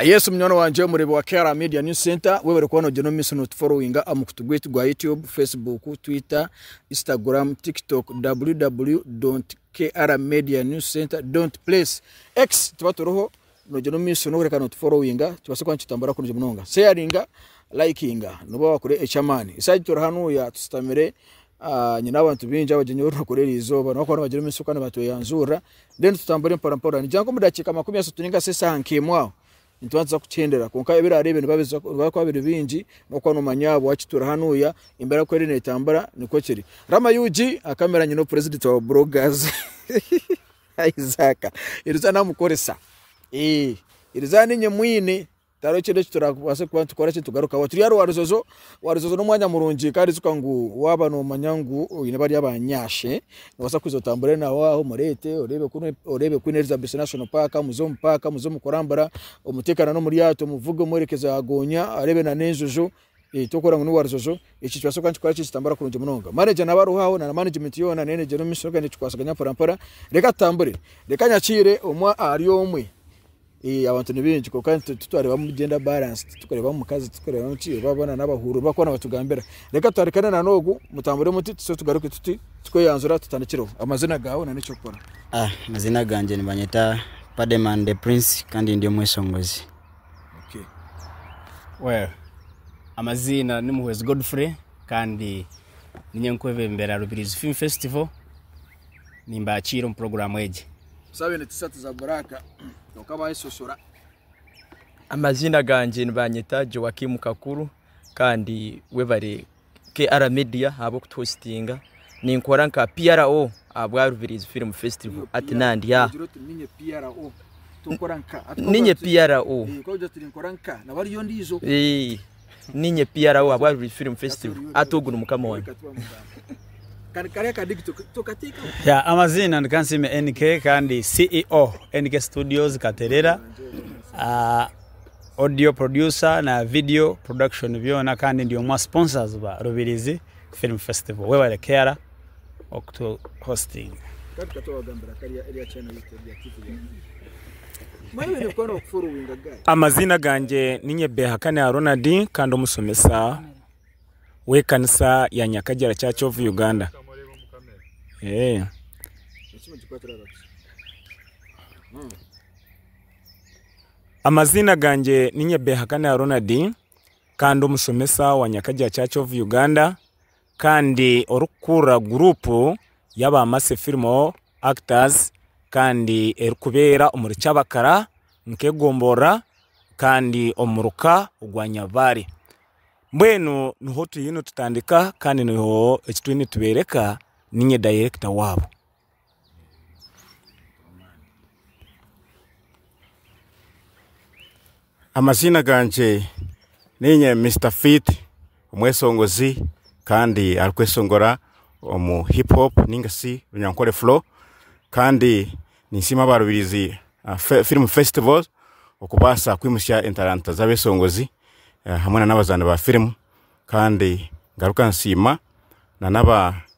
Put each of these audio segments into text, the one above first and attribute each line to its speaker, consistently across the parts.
Speaker 1: Yesu munywani wangye omureebi wa KRA Media News Center, webare kuba nogyenda omu maisho notuforowinga omu kutu gwaitu gwa YouTube, Facebook, Twitter, Instagram, TikTok, www.krmedianewscenter.place, X tuba turiho nogyenda omu maisho nokureka notuforowinga tubaase kuba nitutambura kurungi munonga. Sharinga, likinga noba wakora eky'amaani. Esaaha egi turi hanuuya tusitamire Nyine abantu baingi abagyenyi abu turikukora eri izooba, nobu bakuba nibagira omu ka nibatweyanzurira, mbwenu nitutambura empora mpora. Nigira ngu omu dakiika makumi ashatu ninga shi eshaaha nk'emwe aho, nituba nituza kukihendera. Kwonka ebiraaro ebyo nibikuba biri bingi, orikuba noomanya bwaki turi hanuuya, embeera ku eri neetambura nikwo kiri. Rama ug, akamera nyine opurezidanti wa Bloggers Isaac, iri izooba naamukoresa. Iri izooba niinye mwine, Tihariho kindi eki turabaase kuba nitukora ekitugarukaho. Turi aha Rwaruzozo. Rwaruzozo n'omwanya murungi kandi ijuka ngu waaba noomanya ngu oine bariya baanyaashe, noobaasa kwija otambure nabo aho omureete oreebe ku oreebe Queen Elizabeth National Park, muze omu paaka, muze omu kurambura, omuteekane n'omu ryato, omuvuge omworekyeze aha goonya areebe nan'enjojo. Ekyokurora ngu ni wa rujojo, eki nikibaasa kuba nikikora kye kitambura kurungi munonga. Maneja naaba ariho aho, na manegimenti yoona neena egyere omu maisho kandi nikikwatsaganya mporampora. Reka tutambure. Reka nyakiire omwe ahari omwe. Abantu ni baingi kwonka titwareebamu gender balance, titwikureebamu mukazi, titwikureebamu ki, aba boona n'abahururu barikuba nibatugambira. Reka twarikane na n'ogu, mutambure muti, tuze tugaruke tuti, tukweyanzura tutandikireho. Amaziina gaawe na n'eky'okukora? Amaziina gangye
Speaker 2: nibanyeta Pademan De Prince kandi ndi omweshongozi.
Speaker 3: Well amaziina ni Muhwezi Godfrey kandi ninye nkwebembera Rubirizi Film Festival nimbakiira omu program egi. Tusabe ni T-shirt
Speaker 1: za black kwonka bayesoshora.
Speaker 4: Amaziina gangye nibanyeta Joakim Kakuru kandi webare. KR Media ahabw'okutuhositinga, ninkora nka PRO ahabwa Rubirizi Film Festival hati nandi aha.
Speaker 1: Ninye PRO. Eh, Ninye
Speaker 4: PRO ahabwa Rubirizi Film Festival hati ogu ni mukama wange.
Speaker 5: Ya, amaziina ni Kansiime NK kandi CEO NK Studios Katerera. Ah, Audio producer na video production byona kandi ndi omwa sponsors ba Rubirizi film festival webare Keara okutu hosting.
Speaker 6: Amaziina gangye ninye Behakane Ronald kandi omusomesa wekanisa ya Nyakagyera Church of Uganda. Amaziina gangye ni Nyebehakana Ronald kandi omushomesa wa Nyakagya Church of Uganda kandi orikukurira guruupu y'aba Mercy Film Actors kandi erikubeera omuri Kyabakara nk'egomborora kandi omuri ka ogwa Nyabaare. Mbwenu niho turiyo nitutandika kandi niho ekituriyo nitubeereka ninye dayirekita waabo.
Speaker 7: Amaziina gangye niinye Mister Fit omweshongozi kandi arikweshongora omu hip hop ninga shi runyankore flow kandi ninsiima abarubirizi film festival okubaasa kwimutsya entaranta z'abeshongozi hamwe n'abazaani ba firimu kandi ngaruka nsiima na n'aba.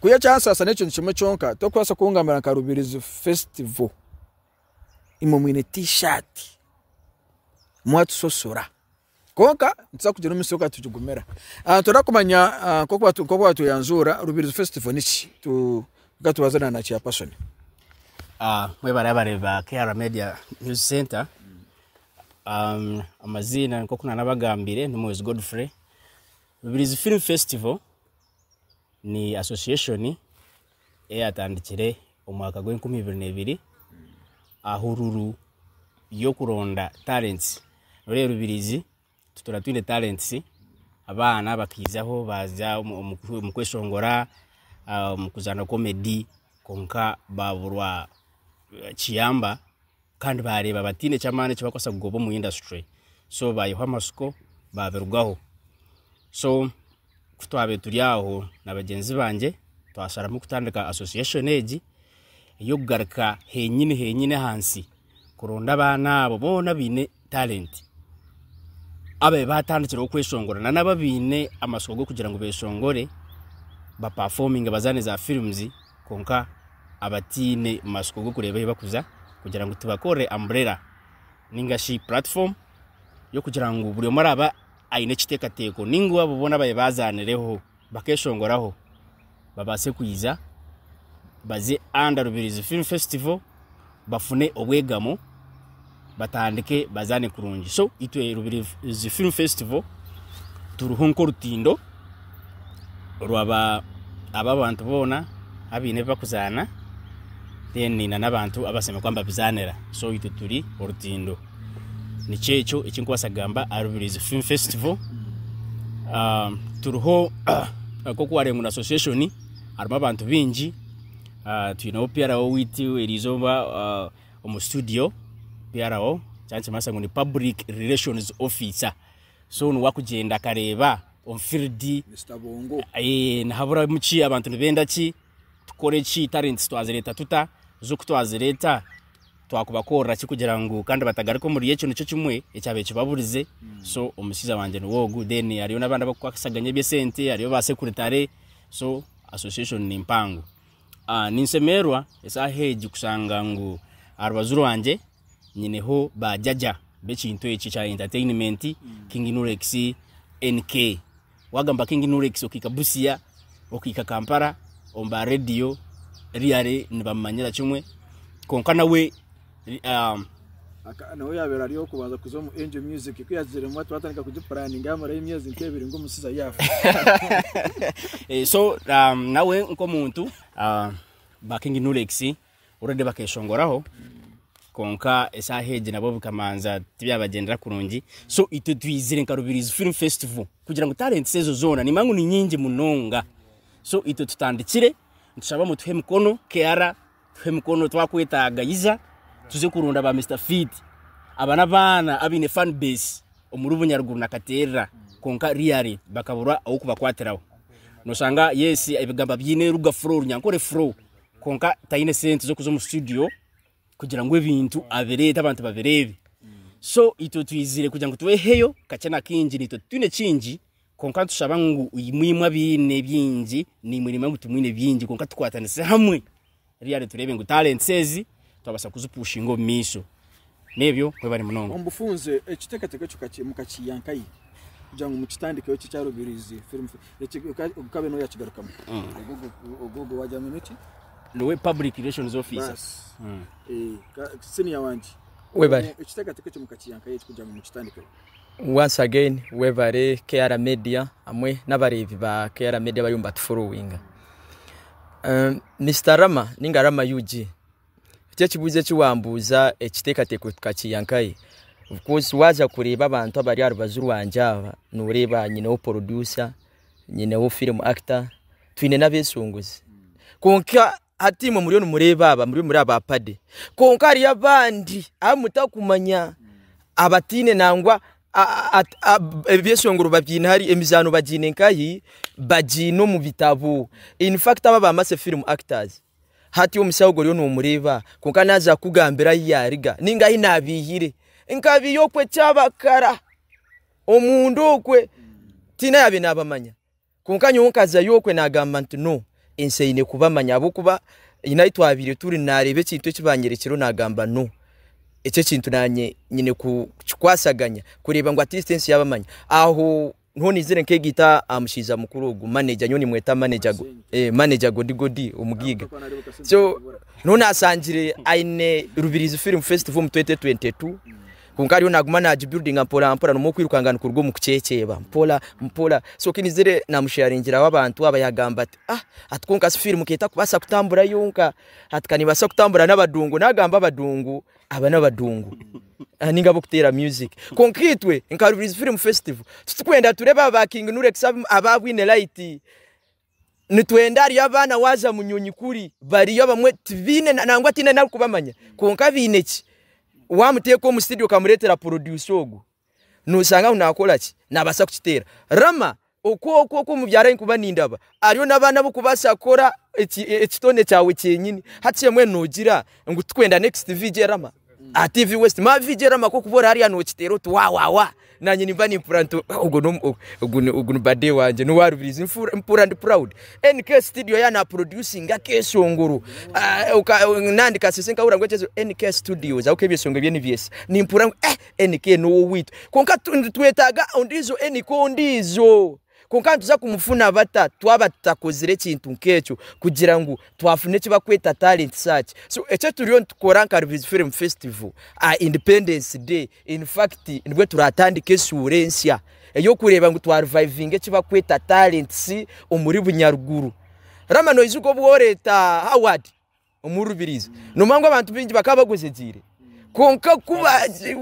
Speaker 1: Ku y'ekyansaasa n'ekintu kimwe kyonka, torikubaasa kungambira nka Rubirizi Festival imwe mwine T-shirt mwatusosora. Kwonka nituza kugira omunsi yoona nitugigumira. Nitubaasa kumanya nk'oku batweyanjuura Rubirizi Festival niki? Tu- reka tubaze na na Chairperson. Mwebarebare
Speaker 3: ba KR Media News Centre, amaziina nk'oku naanabagambire ni Mwozi Godfrey. Rubirizi Film Festival ni association eyatandikire omu mwaka gwa enkumi ibiri na ebiri ahururu y'okuronda talents noreeba rubirizi tutuura twine talents abaana bakaizaho baza omu kweshongora omu kuzaana comedy kwonka baburwa kiyamba. Kandi baareeba bataine ky'amaani eki barikubaasa kugoba omu industry so baihaho amatsiko baabirugaho. So ku twabaire turi aho na bagyenzi bangye twasharamu kutandika association egi ey'okugaruka henyini henyini ahansi kuronda abaana abo boona abaine talenti ababe batandikireho kweshongora nana ababaine amatsiko g'okugira ngu beshongore bapafominge bazaane za firimuzi kwonka abataine matsiko g'okureeba ahu barikuza kugira ngu tubakorere amburera ninga shi puratifomu y'okugira ngu buri omwe araabe aine ekiteekateeko ninga abo boona ababe bazaanireho bakeshongoraho babaase kwija baze under Rubirizi Film Festival bafune obwegamo batandike bazaane kurungi. So itwe Rubirizi Film Festival turiho nk'orutindo rwa ba aba abantu boona abaine ebi bakuzaana then na n'abantu abashemereire kuba nibabizaanira. So itwe turi orutindo. nikyo ekyo eki nkubaasa kugamba aha Rubirizi Film Festival. Ah, Turiho nk'oku waareeba ngu ni association, harimu abantu baingi. Ah, Twineho PRO waitu erizooba ah, omu studio, PRO, eki nikibaasa ngu ni Public Relations Officer. So niwe arikugyenda akareeba omu field, Mister Bongo.
Speaker 1: Eh, nihaburamu
Speaker 3: ki abantu nibenda ki tukore ki talents twazireeta tuta z'oku twazireeta twakubakorera ki kugira ngu kandi batagaruka omuri ekyo nikyo kimwe ekyabaire kibaburize so omushaija wangye niwe ogu then hariyo n'abandi abakukwasaganya eby'esente hariyo ba sekuritare so association ni mpango Ah, ninsemererwa esaaha egi kushanga ngu aha rubaju rwangye nyineho ba jaja b'ekintu eki ekya entertainment king nurex nk Wagamba King Nurex okahika Busia, okahika Kampala omu ba radio really nibamumanyira kimwe kwonka nawe um, Aka
Speaker 1: nawe yabaire ari ow'okubanza kuza omu Angel Music. Ku yaagiziremu ati waatandika kugipuraaninga yaamarayo emyezi nk'ebiri ngu omusizi aye afa. Eh, so
Speaker 3: um, nawe nk'omuntu uh, ba King Nurex Already bakeshongoraho kwonka esaaha egi nabo bikamanza tibyabagyendera kurungi so itwe twizire nka Rubirizi Film Festival kugira ngu talents ezo zoona nimba ngu ni nyingi munonga so itwe tutandikire nitushaba mutuhe emikono Kiara tuhe emikono twakwetaaga iza tuze kurunda ba Mister Feed aba n'abaana abaine fan base omuri Bunyaruguru na Kateerera kwonka really bakabura ow'okubakwatiraho noshanga yes ebigamba byine ruga flow runyankore flow Kwonka taine sente z'okuza omu studio kugira ngu ebintu abireete abantu babireebe. So itwe twizire kugira ngu tweheyo kakye na kaingi naitwe titwine kingi kwonka nitushaba ngu imwe imwe abaine bingi naimwe nimanya ngu timwine bingi kwonka tukwatanise hamwe reero tureebe ngu talents ezi twabaasa kuzipushinga omu maisho. N'ebyo, mwebale munonga. Omu bufunze, ekiteekateeko
Speaker 1: ekyo mukakiiha nkahi kugira ngu mukitandikeho? Ekyo ekyaruubiriize firimu okabe nooyakigarukamu? Ogwo ogwo waagira ngu niki? Niwe Public
Speaker 3: Relations Officer. Baasi. Siniya
Speaker 1: wangye. Webale. Ekiteekateeko
Speaker 4: ekyo mukakiiha
Speaker 1: nkahi eki kugira ngu mukitandikeho? Once again
Speaker 4: webare KR media hamwe n'abareebi ba KR media abariyo nibatuforowinga. Um, Mister Rama ninga Rama UG, eki ekibuuzo eki wambuuza ekiteekateeko tukakiiha nkahi? Of course waaza kureeba abantu abari aha rubaju rwangye aba, nooreeba nyineho producer, nyineho film actor, twine n'abeesongozi. Kwonka Hati imwe muriyo nimureeba aba, muriyo muri aba pade, kwonka hariyo abandi abu mutakumanya abataine nangwa ebyeshongoro babyaine hari emizaano bagyaine nkahi bagyaine omu bitabo infact aba ba mase film actors hati omushaho ogwo oriyo nomureeba kwonka naza kukugambira ahu yariga ninga ahu nabihire nkabiiya okwe kyabakara omunda okwe tihaine ayabaire nabamanya. Kwonka nyowe nkazayo okwe nagamba nti no ensi eine kubamanya ahabwokuba nyine ahu twabaire turi nareeba ekintu eki banyerekyireho nagamba no eki ekintu nanye nyine kukikwasaganya kureeba ngu atleast ensi yabamanya aho niho nizire nkegita aha mushaija mukuru ogu manager nyowe nimweta manager manager Godi Godi omugiiga so niho nasangire ayine Rubirizi film festival omu twenty twenty two. Kwonka ariyo naaguma naagibuildinga mporampora nomu okwirukanga nikuruga omu kuceeceeba mpora mpora so ku naizire naamusheyaringiraho abantu aba yaagamba ati ah ati kwonka shi fiirimu ka etakubaasa kutambura yonka ati ka neebaasa kutambura n'abadungu naagamba abadungu aba n'abadungu ninga ab'okuteera music kwonka itwe nka Rubirizi Film Festival titurikwenda tureebe aba ba King Nura X abaabwine layiti. nitwenda hariyo abaana waaza munyonyi kuri bariyo abamwe tibaine nangwa tihaine narikubamanya kwonka baine ki waamuteeka omu studio okamureetera producer ogwo noshanga ngu naakora ki naabaasa kukiteera. Rama oku oku oku omubyara aine kuba nindaba ariyo n'abaana ab'okubaasa kukora ekitone kyawe kyenyini hati mbwenu noogira ngu tikwenda next VJ Rama? Aha TV West ma VJ Rama ko kuba ori hariya nokiteera oti wa wa wa nanye nimba nimpura nti ogu ni omu- ogu ni- ogu ni bade wangye n'owa Rubirizi Nfu- mpura ndi proud NK studio ya na producinga akeshongoro Ah, oka- nandi kasese nkahurira ngu ekyezo NK studios aho k'ebyeshongoro ebye nibyesa nimpura ngu eh NK n'owoweitu kwonka tu- nitwetaaga ondiijo NK ondiijo. Kwonka nituza kumufuna bata twaba tutakozire ekintu nk'ekyo kugira ngu twafuna eki barikweta talenti search? So eki eturiyo nitukora nka Rubirizi Film Festival aha Independence Day in fact nibwe turatandika eshuura ensya ey'okureeba ngu twarivayivinga eki barikweta talenti omuri Bunyaruguru. Rama noijuka obu woreeta Howard? Omu rubirizi nomangu abantu baingi bakaba bagwejegyeire kwonka ku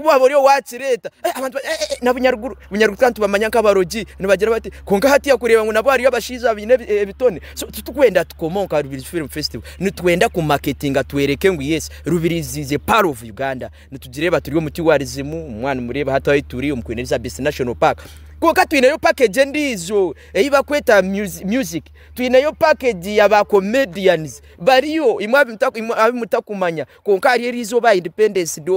Speaker 4: waaba ori owaakireeta abantu n'abunyaruguru, bunyaruguru twaba nitubamanya nk'abarogi nibagira bati kwonka hatiiya kureeba ngu nabwo hariyo abashaija abaine ebitone so titurikwenda tukome omu ka Rubirizi Film Festival nitwenda kumaketinga tworeke ngu yes Rubirizi is a part of Uganda nitugireeba turi omu tourism mbwenu nimureeba hati ahu turi omu Queen Elizabeth National Park kwonka twineyo package endiijo ei barikweta music twineyo package ya ba comedians Bariyo imwe abu mutakumanya kwonka ahari eri izooba aha Independence Day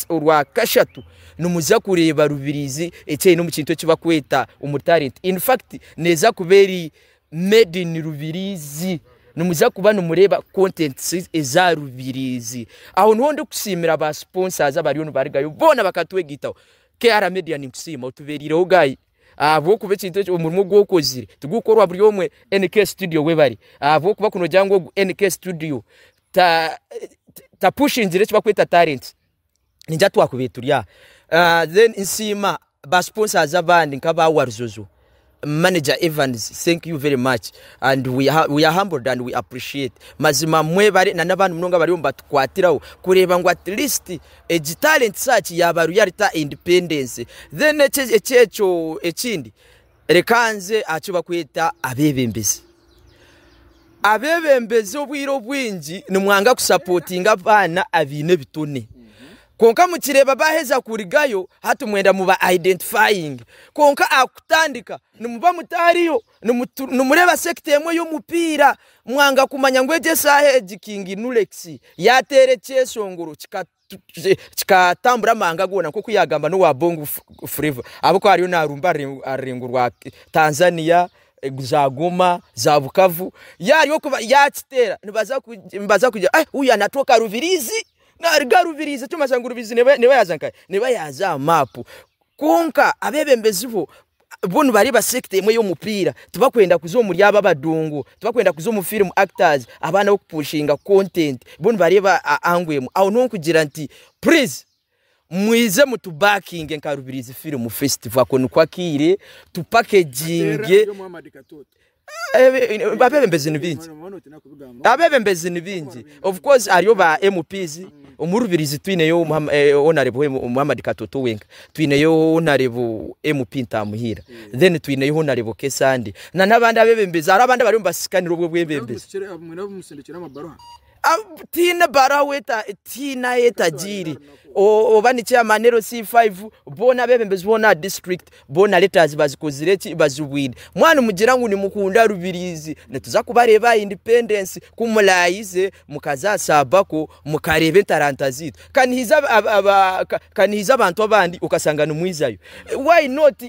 Speaker 4: orwa kashatu nimuza kureeba Rubirizi eki eine omu kintu eki barikweta omu talent. In fact neeza kuba eri made in Rubirizi. Nimuza kuba nimureeba contents eza Rubirizi. Aho niho ndikusiimira ba sponsors abariyo nibarugayo boona bakatwegaitaho. KR Media ninkusiima otubeerireho guy. ahabw'okuba ekintu ekyo omurimo ogu okozire tigukukorwa buri omwe NK studio we bari ahabw'okuba kunogira ngu ogu NK studio ta tapushingire eki bakweta talent ningira twakubire turi aha Ah, then nsiima ba sponsors abandi nk'aba Warzozo manager Evans thank you very much and we, ha- we are humbled and we appreciate mazima mwebare na n'abandi munonga bari omu batukwatiraho kureeba ngu at least Egi talent search yaaba realtor independency then eki ekyeekyo ekindi reka nze ahakibakweta abebembezi abebembezi obwiire obwingi nimwanga ku supportinga abaana abaine ebitone kwonka mukireeba baheza kurigayo hati mwenda muba identifying kwonka ahakutandika nimuba mutaariyo. Nimutu- nimureeba sekita emwe y'omupiira mwanga kumanya ngu egi eshaaha egi kingi nulekisi yaateera ekyeshongoro kikatu- ki- kikatambura amahanga goona nk'oku yaagamba n'owa bongo F- flavour ahabw'okuba ariyo naarumba aha rurengo- aha rurengo rwa tanzania eh, za goma za bukavu yaari okuba yaakiteera nibaza ku- nibaza kugira "Ai, uyu anatoka rubirizi naruga rubirizi ekirikumanyisa ngu rubirizi neeba neeba yaaza nkahe neeba yaaza aha maapu Kwonka abebembezi bo bo nibareeba sector emwe y'omupiira, tibakwenda kuza omuri abo abadungu, tibakwenda kuza omu film actors, abaana b'okupushinga content, bo nibareeba angle emwe. Aho niho nkugira nti please mwize mutu backinge nka Rubirizi Film Festival ako niko akaire, tu packaginge Abeebembezi ni baingi, abeebembezi ni baingi of course hariyo ba MP omu Rubirizi twineyo Honarebo Muhamad Katooto wenka, twineyo Honarebo MP Ntamuhiira, then twineyo Honarebo Kesande na n'abandi abeebembezi hariho abandi abariyo nibasisikanira obwo bwebembezi. tihaine ahu etagiire oba ni chairman LC5 boona abebembezi boona aha district boona letters bazikozire ki bazibwine mwanu mugira ngu nimukunda Rubirizi nituza kubareeba aha independence ku murayize mukaza saabako mukareeba entaranta zeitu kanihaija abantu abandi okashanga nimwijayo why not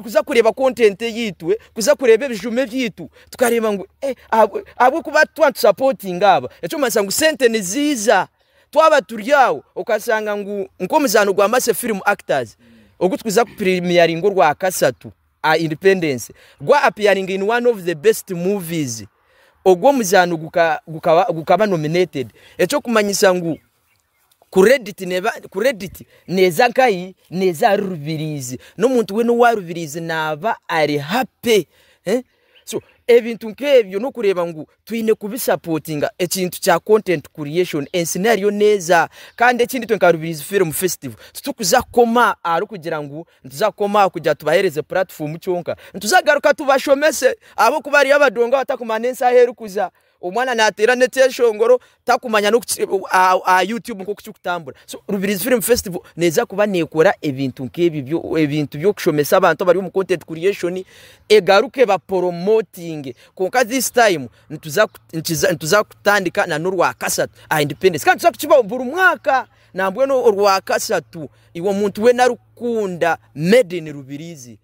Speaker 4: kuza kureeba content eyitwe kuza kureeba ebijuma ebyitwe. tukareeba ngu eh, ahabw'okuba twatusapotinga aba ekyomanisa ngu sente niziija twaba turi aho okashanga ngu nk'omuzaano gwa mase film actors ogu tukuza kupremiaringa orwa kasatu a independence gwa appearing in one of the best movies ogwo omuzaano gukaba nominated ekyokumanyisa ngu Credit neeza nkahi? Neeza ahari rubiriizi. N'omuntu weena owa rubiriizi naaba ari happy. So ebintu nk'ebyo n'okureeba ngu twine kubisapotinga ekintu kya content creation. Ensi niho eriyo neeza. Kandi ekindi itwe nka Rubiriizi Film Festival titurikuza kukoma aharikugira ngu nituza kukoma aharikugira ngu tubaheereze puratifomu kyonka. Nituza kugaruka tubashomese ahabw'okuba hariyo abadongo abatakumanya n'ensi ahu erikuza. Omwana nateera n'ekyeshongoro takumanya n'oku ki- aha aha YouTube nk'oku kirikutambura. So Rubirizi Film Festival neija kuba neekora ebintu nk'ebi byo- ebintu by'okushomesa abantu abari omu content creation, egaruke baporomotinge. Kwonka this time nituza ku- nikiza nituza kutandika na n'orwakashatu aha Independence. Kandi nituza kukibaho buri mwaka nambwenu orwakashatu iwe omuntu weena arikukunda Made in Rubirizi.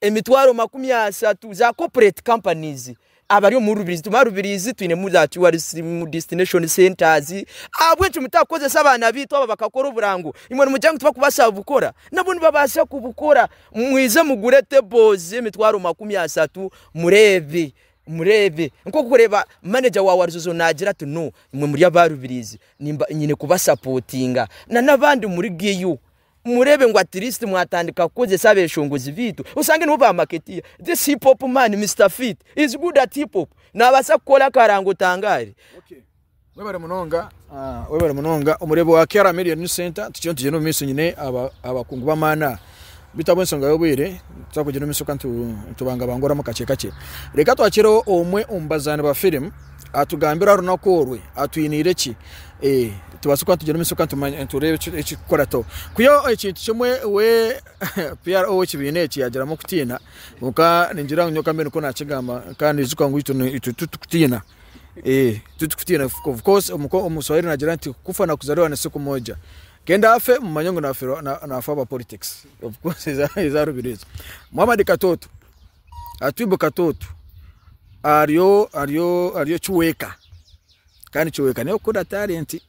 Speaker 4: emitwaro makumi ashatu za corporate companies abari omu Rubirizi tumara Rubirizi twinemu za tourism destination centers ahabw'enki mutakukozesa abaana baitu aba bakakora oburango imwe nimugira ngu tibakubaasa kubukora nabo nibabaasa kubukora mwize mugure tables z'emitwaro makumi ashatu mureebe mureebe nk'okureeba manager wa Warizozo naagira ati no imwe muri aba Rubirizi nyine kubasapotinga na n'abandi murigeyo Mureebe ngu at least mwatandika kukozesa abeshongozi baitu oshange nibo ba marketeer. This hip hop man Mister Fit is good at hip hop nabasa kukora akarango otangaare. Okay.
Speaker 1: Webare munonga, ah, webare munonga omureebi wa Kera Million New Center tukiriyo nitugyenda omu maiso nyine abakungu b'amaani aha bitu abw'ensonga y'obwire nituza kugyenda omu maiso ka nitubangabangoramu kakye kakye. Reka twakire omwe omu bazaani ba firimu. atugambire aha runaku orwe atwiniire ki tubaase kuba nitugira omumaisho kandi nitureeba ekirikukora to ku ekintu kimwe we PR ow'ekibiina eki yagiramu okutiina kwonka ningira ngu nyowe kambe nikwo naakigamba kandi ijuka ngu itwe titurikutiina titurikutiina of course omu swahili naagira nti kufa na kuzaliwa ni siku moja kenda afe mumanye ngu naafa ahabwa politics of course ezaarubire ezo Muhamad Katooto. Atwibo kato otu aryo kiweeka kandi kiweeka nawe kukora talenti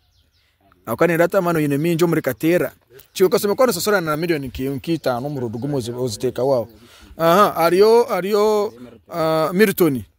Speaker 1: ahabw'okuba neyereba ati amaani oine maingi omuri kateera, kiweeka oshemeriire kuba nososorana na million nka itaano omurundi gumwe oziteekaho aho, hariyo Milton.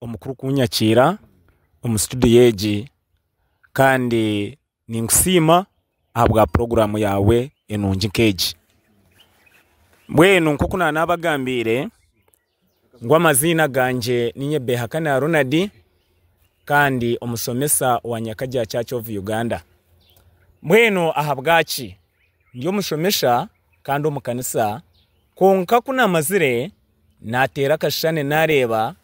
Speaker 6: omukuru kunyakiira omu studio egi kandi ninkusiima ahabwa puroguramu yaawe enungi nk'egi. Mbwenu nk'oku naanabagambiire ngu amaziina gangye ni Nyebehakane Ronald kandi omushomesa wa Nyakaja Church of Uganda. Mbwenu ahabwaki? Ndi omushomesa kandi omu kanisa kwonka ku naamazire naateera akashushani naareeba,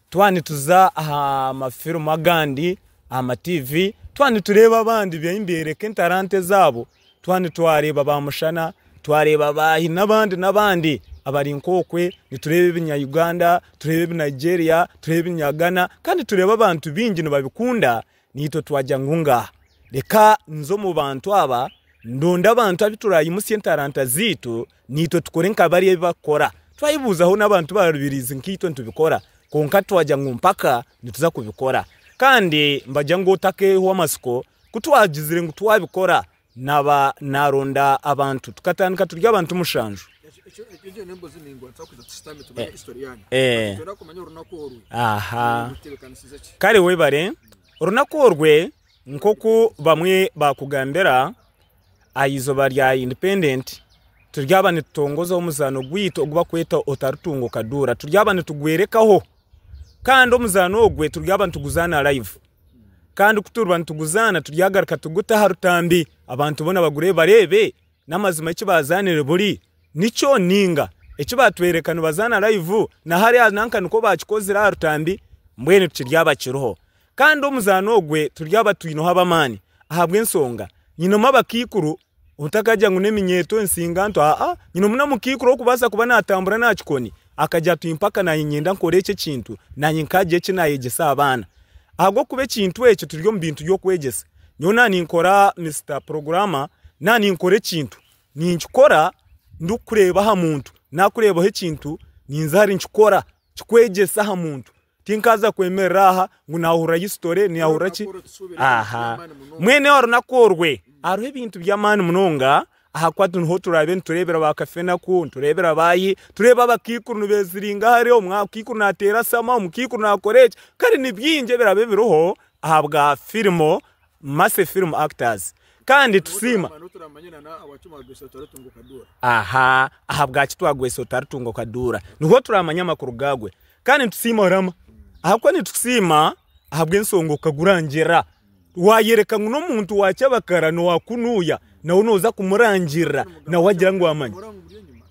Speaker 6: twaba nituza aha mafirimu agandi, aha matiivi, twaba nitureeba abandi beihi nibeereka entaranta ezaabo, twaba nitwareeba ba mushana, twareeba ba hi n'abandi n'abandi abari nk'okwe, nitureeba ebinya Uganda, tureeba ebi Nigeria, tureeba ebinya Ghana kandi tureeba abantu baingi nibabikunda Naitwe twagira ngu ngaaha, reka nze omu bantu aba, ndonde abantu abu turaimutsye entaranta zaitu, naitwe tukore nka bari ebi barikukora. Twaibuuzaho n'abantu ba rubirizi nkaitwe nitubikora, kwonka twagira ngu mpaka nituza kubikora. Kandi mbagira ngu otakehwa amatsiko, ku twagizire ngu twabikora, Naaba naaronda abantu, tukatandika turi abantu mushanju. Kare webare. Orunaku orwe nk'oku bamwe baakugambira aha izooba rya independent turyaba nitutongoza omuzaano gwaitu ogu barikweta otaritunga okaduura turyaba nitugworekaho. Kandi omuzaano ogwe turyaba nituguzaana live kandi ku turiba nituguzaana turyagaruka tugute aha rutambi abantu boona bagurebe bareebe n'amazima eki baazaanire buri nikyo nainga eki baatworeka nibazaana live na hariya nanka nikwo baakikozire aha rutambi, mbwenu tikiryaba kiriho. Kandi omuzaano ogwe turyaba twineho ab'amaani ahabw'enshonga nyinemu abakaikuru Otakagya ngu n'eminyeeto ensinganto, aa, nyine omu namukaikuru orikubaasa kuba naatambura n'aha kikoni, akagya ati, Mpaka naanye niinyenda nkore eki ekintu, naanye nkaagira eki naayegyesa abaana. Ahabw'okuba ekintu ekyo turi omu bintu by'okwegyesa. Nyowe naaba ninkora, Mister Programmer, naaba ninkora ekintu, ninkikora ndikureeba aha muntu. Naakureebaho ekintu, ninza ahari nikikora, kikwegyese aha muntu. Tinkaaza kwemerera aha ngu naahurira hisitore neyahurira ki. Aha mwene wa runaku orwe hariho ebintu by'amaani munonga ahakuba niho turaabe nitureebera ba kafenaku nitureebera baayi tureeba abakaikuru nibeeziringa hare omukaikuru naateera shama omukaikuru naakora eki kare ni bingi ebiraabe biriho ahabwa firimu mase firimu akitaazi kandi tusiima aha ahabwaki twagwesa otaritunga okaduura niho turaamanya amakuru gaagwe Kandi nitusiima Oraama, ahakuba nitukusiima ahabw'ensonga okagura ngyera. Waayoreka ngu n'omuntu wa kyabakara nookunuya, nawe nooza kumurangirira, nawe agira ngu amanyi.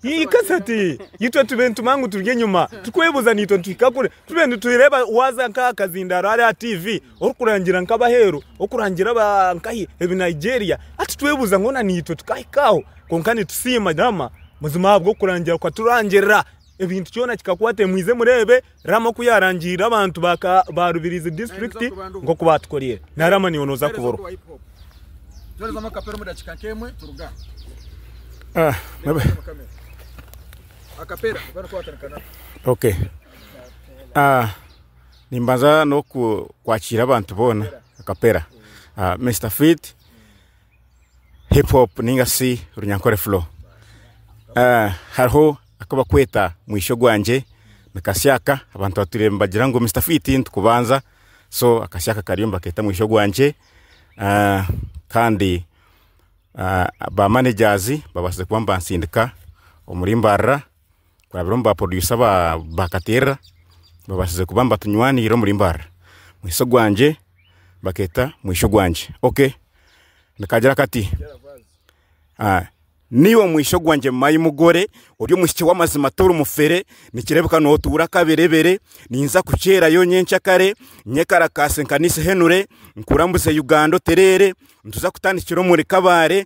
Speaker 6: Ii Kasati, itwe tube nituma ngu turi enyima, turikwebuuza ngu itwe nituhika kuri, tube nitureeba waaza nk'aha kazindaaro hare aha tiivi orikurangira nk'abaheeru, orikurangira nkahi ebi Nigeria, hati twebuuza ngu naitwe tukahika aho. Kwonka nitusiima Oraama buzima ahabw'okurangira kukaturangirira. ebintu kyona kikakwata ebi mwize mureebe Rama oku yaarangiirire abantu ba Rubirizi District nk'oku baatukoreire na Rama niiwe nooza kuburwa
Speaker 1: ah, okay
Speaker 7: ah, nimbanza n'okwakiira abantu boona akapera ah, Mr Fit hip hop ninga shi runyankore flow. Hariho aku bakweta mwisho gwangye ni Kasiaka, abantu batwiire nibagira ngu Mister Fiti nitukubanza so Kasiaka kariyo nibakeeta mwisho gwangye kandi ba managers babaasize kuba nibansindika omuri Mbarara kurabira omu ba producer ba katerera babasize kuba nibatunywanira omuri mbarara mwitsye ogwangye baketa mwishya ogwangye ok nikagira kati niiwe mwishya ogwangye my mugore ori omwishiki wamazima tori mufere nikirebeka notuura kaberebere ninza kukyerayo nyenkya kare nye karakasi nkanise ehenure nkurambuze Uganda otereere nituza kutandikira omuri kabare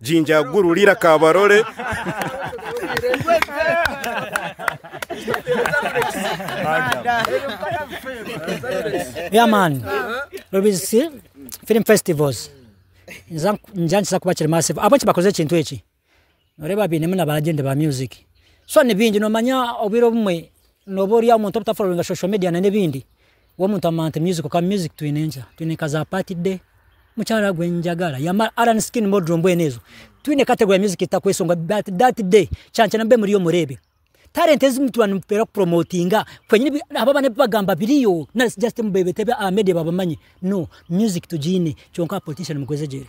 Speaker 7: Jinja guru riira kabarole.
Speaker 8: Yeah man. Rubisi Film Festivals. Nza- Nja nikiza kuba kiri massive. Abo kibakoze ekintu eki. Noreeba bainemu na ba agent ba music. So nibingi nomanya obwire obumwe noba ori omuntu obutafollowinga social media na n'ebindi. W'omuntu amanya nti music kwonka music twine nkya twine nka za party day mukyara gwe njagara ya ma Allan skin model mbwenu ezo twine category ya music zitakwesongwa but that day kyankya na mube muriyo mureebe talent ezi mutuba nimutera ku promotinga kwenyini bi abo abana ebi bagamba biriyo nari si just mubebeta ebi aha media babamanye no music tugyine kyonka politician mugwezegyere.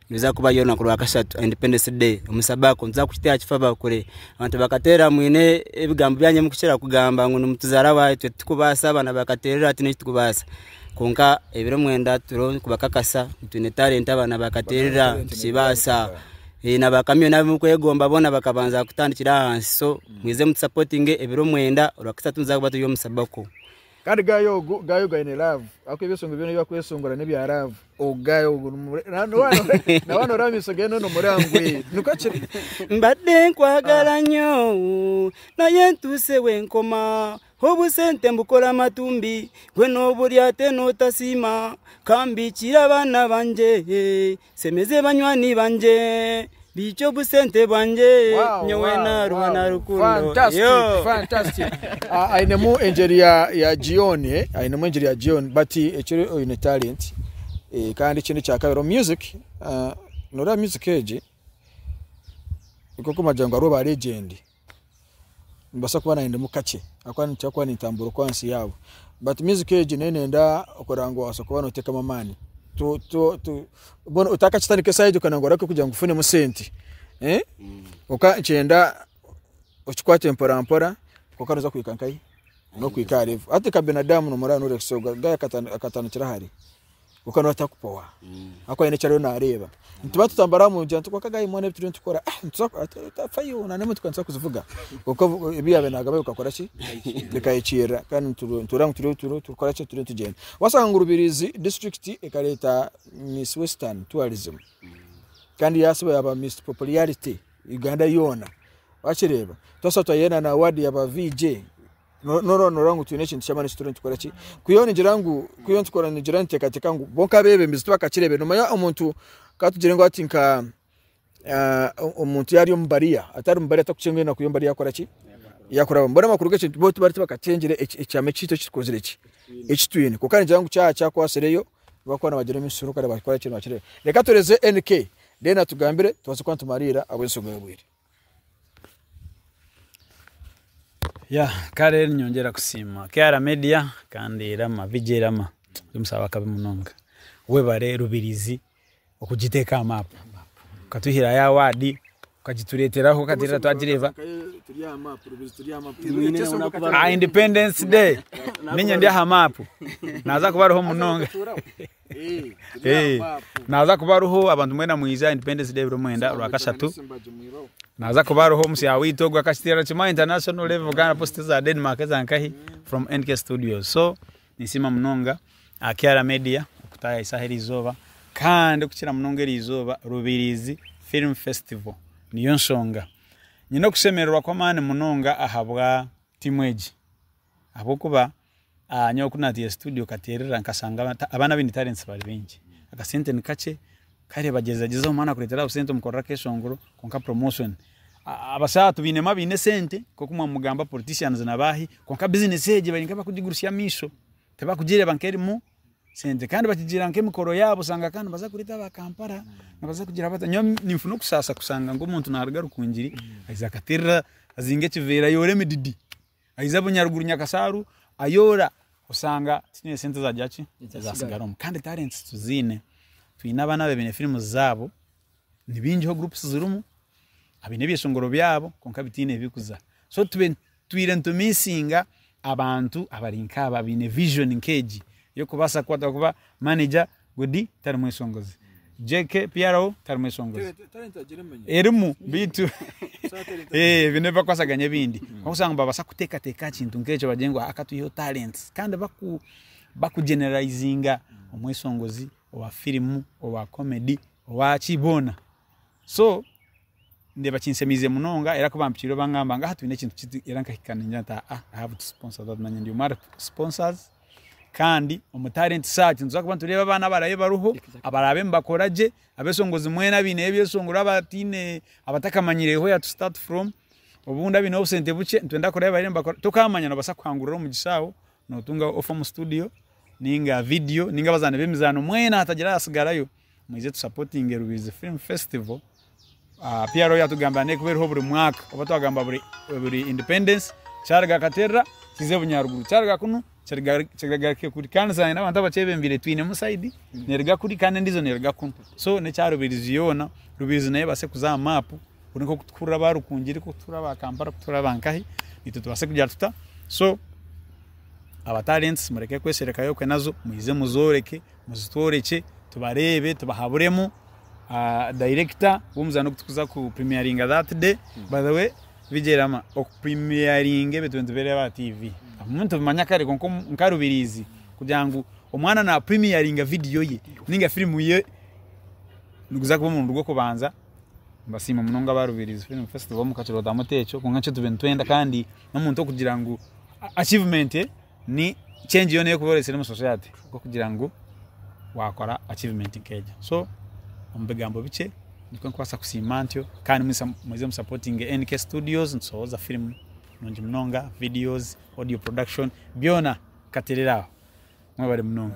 Speaker 2: Niruza kuba y'orunaku rwa kashatu aha Independence Day omu Sabaco. Nituza kukiteera kifa bakure. Abantu bakateera mwine ebigambo byanyu mukukira kugamba ngu nimutuzaara abaahi. Itwe titukubaasa, abaana ba Kateerero hati n'itwe titukubaasa. Kwonka ebiro mwenda turiho nikubakakasa ngu twine talenti abaana ba Kateerero aha, nitukibaasa. Na ba Kamiyoni abu murikwegomba boona bakabanza kutandikira ahansi. So, mwije mutusapotinge ebiro mwenda, orwakashatu nituza kuba turi omu Sabaco. Kandi
Speaker 1: guy ogu guy ogu aine love akuba ebisongo byona ebyakwesongora nebya love ogu guy ogu na wana ora amiso geye nona omurangwe niko kiri mbadde
Speaker 2: nkwagala nyo naye ntuuse wenkoma obusente mbukora amatumbi gwe noburyate notasiima kambikira abaana bangye Nsemeze banywani bangye, Baikye obusente bwangye, Nyowe naarwa na rukundo.
Speaker 1: Ainemu engyeri ya Gioni, ainemu engyeri ya Gioni. But ekyo oine talent kandi ekindi ekya kabiri omu music, nooreeba music egi, nikwo orikugira ngu hariho ba legend. nimbaasa kuba naanye ndimu kakye ahabw'okuba nitukira kuba nitutambura oku ahansi yaabo beitu music egi nayo neeyenda kureba ngu obaase kuba noteekamu amaani mbwenu otakakitandika esaaha egi okanaga oreke kugira ngu ofunemu sente kwonka nikigyenda okikwate mporampora kwonka nooza kuhika nkahi? N'okuhika aha level hati nka Benadamu nooreeba akatandikira ahari. kwonka nawe atakupowa ahakuba haine eki ariyo naareeba nituba tutambura omu mugyera kwonka again mbwenu ebi turiyo nitukora ah, nituza ku- atu- tutafayo na n'emotoka nituza kuzivuga kwonka obu- ebi yaabaire naagamba bikakora ki bikahikiirira kandi nitu- nitureeba ngu turiyo turiyo turikukora ki turiyo nitugyenda waasanga ngu rubirizi district ekareeta miss western tourism kandi yaasiba yaaba miss popularity uganda yoona wakireeba twasiba twaiha na award yaaba VJ no- norora norora ngu twine ekintu ky'amaani eki turiyo nitukora ki kwihaho nigira ngu kwihaho nikikora nigira niteekateeka ngu bonka abeebembezi tibakakireebire noomanya omuntu ka tugire ngu hati nka ah, o- omuntu yaarya omu bariya atari mu bariya atakucenga enaku y'omu bariya yaakora ki yaakurabamu mbwenu amakuru g'ekintu bo tibari tibakacengyire eki- ekyama ekitu eki tukozire ki eki twine kwonka nigira ngu kya kyakwatsireyo nibakuba nibagira emisuru kandi bakora ki nibakireeba reka tureeze NK then atugambire tubaase kuba nitumariira ahabw'ensonga y'obwire.
Speaker 5: Kare ninyongyera kusiima KR media kandi Rama VJ Rama ori omushaija wakabi munonga webare rubirizi okugiteka aha maapu okatwihiraho eya waadi okagitureteraho okatureetera twagireeba aha independence day niinye ndi aha maapu naaza kuba ariho munonga. Naaza kuba ariho abantu mwena mwija Independence Day 29 Rwakashatu. Naaza kuba ariho omusya waitu ogwo akakiteera kimwe aha international level Uganda Post eza Denmark eza nkahi from NK Studios. So ninsiima munonga aha Kiara Media kutaayahisaho eri izooba kandi kukira munonga eri izooba Rubiriizi Film Festival niyo nshonga nyine okushemererwa kw'amaani munonga ahabwa tiimu egi ahabw'okuba Nyowe ku nateire studio katerera nkashanga abaana abine talents bari baingi akasente ni kakye kare bagyeza gyeza omwana akuretera obusente omukorere akeshongoro kwonka promotion abashaa tubinemu abine esente nkoku mwamugamba politicians na bahi kwonka business egyo bari nkabakugigurutsya amaisho tibakugireba nkerimu sente kandi bakigira nkemikoro yabo osanga ka nibaza kureta aba Kampala nibaza kugira bata nyowe ninfuna okushasha kushanga ngu omuntu naruga Rukungiri aize akaterera azinga ekiveera ayore emididi Aija bunyaruguru nyakasaaru ayoora oshanga tikiine sente ezagira ki ezatsigaramu kandi talenti tuziine twine abaana abaine firimu zaabo nibaingiho gurupusi zirimu abaine ebyeshongoro byaabo kwonka bitaine ebirikuza so twiire nitumiisinga abantu abari nkaabo abaine vijoni nkeegi yokubaasa kukwata kuba manegya Godi tari mwesongozi. JK PRO tari mwesongozi. Erimu beitu eh, ebi nebibakwasaganya ebindi. Okusanga babasa kutekateka aha kintu nk'ekyo bagire ngu aka tuiheho talents kandi baku bakugeneralizinga omwesongozi owa firimu owa comedy owa ki boona. So ndeeba kinsemiize munonga era kubampikirire bangamba ngu aha twine ekintu kiti era nkahika ningira nti aa I have to sponsor that nanye ndi omwe ahari sponsors kandi omu talent search nituza kuba nitureeba abaana abarabe bariho abarabe nibakora gye abesongozi mwena abaineyo ebyesongoro abataine abatakamanyireyo where to start from obundi abaineho obusente bukye nitwenda kuraba abarabe nibakora tokamanya nobasa kuhangurira omugisha aho notunga ofa omu studio ninga video ninga abazaani b'emizaano mwena hatagira ahatsigarayo. mwije tusapotinge Rubirizi Film Festival. Ah, PRO yatugambira neekuba eriho buri mwaka oba twagamba buri buri independence kyariga katerera kize bunyaruguru kyariga kunu kiriga- kirigaruke kuri kandi nsangire n'abantu abakyebembeire twinemu side neriga kuri kandi endiijo neriga kunu so n'ekya Rubirizi yoona Rubirizi nayo ebaase kuza aha maapu kuri nk'oku turikuhurira aba Rukungiri nk'oku turikuhurira aba Kampala nk'oku turikuhurira aba nkahi itwe tubaase kugira tuta so aba talents mureke kwesherekayo okwe nazo mwije muzooreke Muzitworekye tubareebe tubahaburemu director w'omuzaano ogu turikuza ku premieringa that day. By the way Bigyerama oku premieringa ebintu nitubireeba aha TV ebimwe nitubimanya kare kwonka nka Rubiriizi kugira ngu omwana na premieringa video ye ninga firimu ye niguza kuba omurundi gw'okubanza. Mbasiima munonga aba Rubiriizi Film Festival mukakirootamu ote ekyo kwonka nikyo tube nitwenda kandi n'omuntu okugira ngu achievement. ni change yoona erikuba oreetsire omu society nk'okugira ngu waakora achievement nk'egyo so omu bigambo bikye nikwo ndikubaasa kusiima ntyo kandi mwisa muze mu supportinge NK studios nitushohoza firimu nungi munonga videos, audio production byona nkateerera aho mwebare munonga.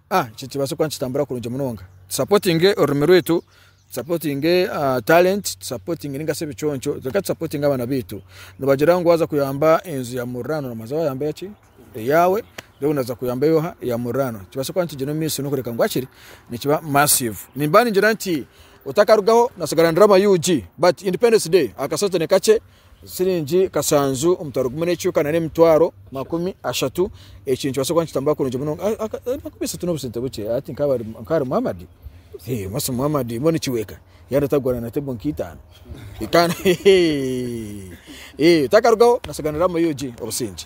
Speaker 1: A, Ekyo kibaase kuba nikitambura kurungi munonga. Tusapotinge orurimi rwaitu, tusapotinge talenti, tusapotinge ninga shi ebiconco, reka tusapotinge abaana baitu. Nibagira ngu waaza kuyamba enju ya muriraanwa noobanza waayamba eya ki? Eyaawe, reero naaza kuyamba ey'oha? Eya muriraanwa. Kibaase kuba nikigyenda omu maisho n'okureeka ngu hakiri nikiba massive. Nimba ningira nti otakarugaho, natsigara ndiraama UG but Independence Day akasente ni kakye, Siringi kashanju omutwaro gumwe n'ekiika nari emitwaro makumi ashatu eki nikibaasa kuba nikitambura kurungi munonga ahakuba esente n'obusente bukye hati nkaba ari Muhammad omwasi Muhammad mbwenu nikiweeka yaaba atagura na table nk'eitaano takarugaho nasigaaniramu obusingye.